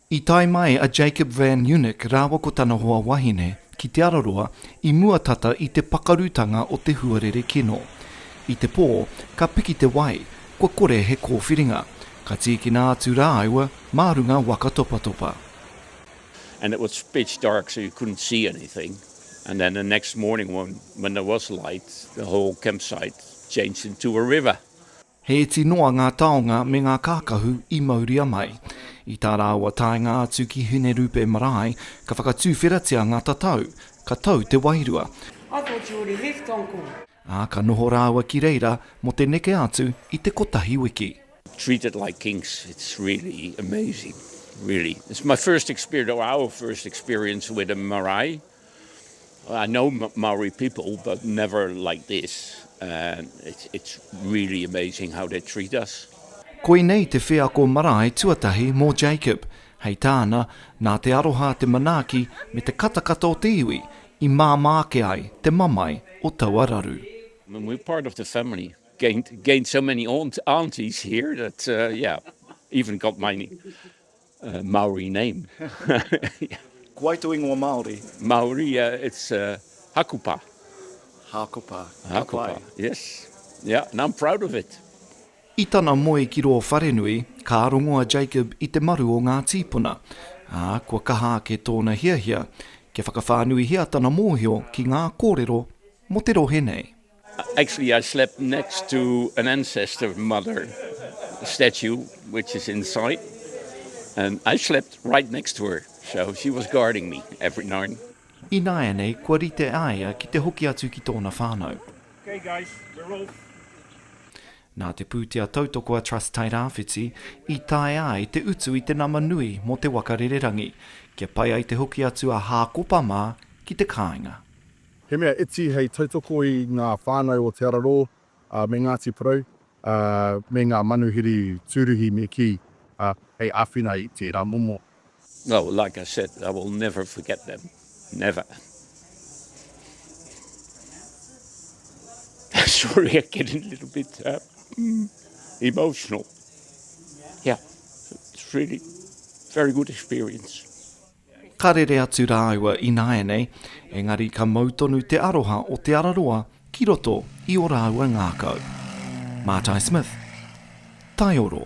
I tae mai a Jacob Van Unik rāua ko tana hoa wahine ki Te Araroa i mua tata i te pakarutanga o te huarere kino. I te pō, ka piki te wai, kua kore he kōwhiringa, ka tīkina atu rāua mā runga waka topatopa. And it was pitch dark so you couldn't see anything and then the next morning when there was light the whole campsite changed into a river. He iti noa ngā taonga me ngā kākahu i mauria mai. I tā rāua taenga atu ki Hinerupe marae, ka whakatuwheratia ngā tatau, ka tau te wairua, ā, ka noho rāua ki reira mō te neke atu i te kotahi wiki. Treat it like kings, it's really amazing, really. It's my first experience, or our first experience with a marae. I know Maori people, but never like this. It's really amazing how they treat us. Koinei te wheako marae tuatahi mō Jacob, hei tāna, nā te aroha te manaaki me te katakata o te iwi i māmā ake ai te mamae o taua raru. We're part of the family, gained so many aunties here that yeah, even got my Maori name. Ko wai to ingoa Maori? Maori, it's Hakupa. Hakupa, ka pai. Hakupa, yes. Yeah, and I'm proud of it. I tana moe ki rō wharenui, ka rongo a Jacob i te maru o ngā tīpuna, ā, kua kaha ake tōna hiahia kia whakawhānuihia tana mōhio ki ngā kōrero mō te rohe nei. Actually I slept next to an ancestor mother statue which is in sight and I slept right next to her so she was guarding me every night. Ināianei kua rite a ia ki te hoki atu ki tōna whānau. Okay guys, we're off. Nā te pūtea tautoko a Trust Tairāwhiti i taea ai te utu i te nama nui mō te waka rererangi kia pai ai te hoki atu a Hākopa mā ki te kāinga. He mea iti hei tautoko i ngā whānau o Te Ararō me Ngāti Porou me ngā manuhiri tūruhi me kī, hei āwhina i tērā momo. Oh, like I said, I will never forget them, never. Sorry, I'm getting a little bit emotional. Yeah, it's really a very good experience. Ka rere atu rāua ināianei, engari ka mau tonu te aroha o Te Araroa ki roto i ō rāua ngākau. Mātai Smith. Taioro.